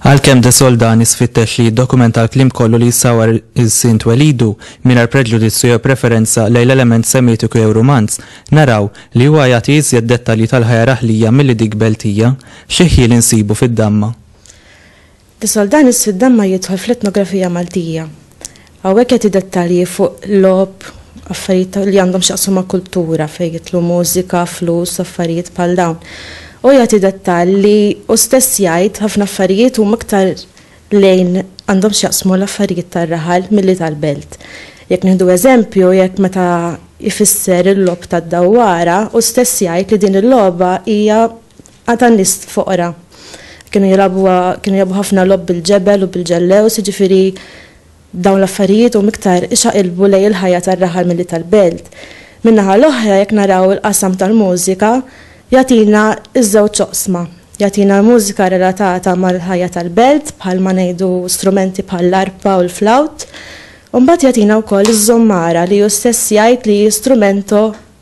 Għalkemm de soldani sfittex li jiddokumenta l-klim kollu li jissawar il-sint welidu mingħajr preġudizzju jew preferenza lejn l-element semitiku jew rumanz, naraw li huwa jagħti iżjed dettalji tal-ħajja raħlija milli dik beltija, xi ħjiel insibu fid-damma. Is-Soldan is-Siddan ma jidħol fl-etnografija Maltija. Hawnhekk jagħti dettalji fuq logħob, affarijiet li għandhom x'jaqsmu ma' kultura fejn jidħlu mużika, flus, affarijiet bħal dawn. Hu jagħti dettall li hu stess jgħid ħafna affarijiet huma iktar lejn għandhom x'jaqsmu l-affarijiet tar-raħal milli tal-belt. Jekk nieħdu eżempju, jekk meta jfisser il-logħob tad-dawwara, hu stess jgħid li din il-logħba hija Għad ta' nies foqra. Kienu jilagħbuha, kienu jilagħbu ħafna logħob bil-ġebel u bil-ġellews, jiġifieri dawn l-affarijiet huma iktar ixaqilbu lejn il-ħajja tar-raħal milli tal-belt. Min-naħa l-oħra jekk naraw il-qasam tal-mużika jagħtina ż-żewġ oqsma. Jagħtina l-mużika relatata mal-ħajja tal-belt bħalma ngħidu strumenti bħall-arpa u l-flawt. U mbagħad jagħtina wkoll iż-żommara li hu stess jgħid li hi strumento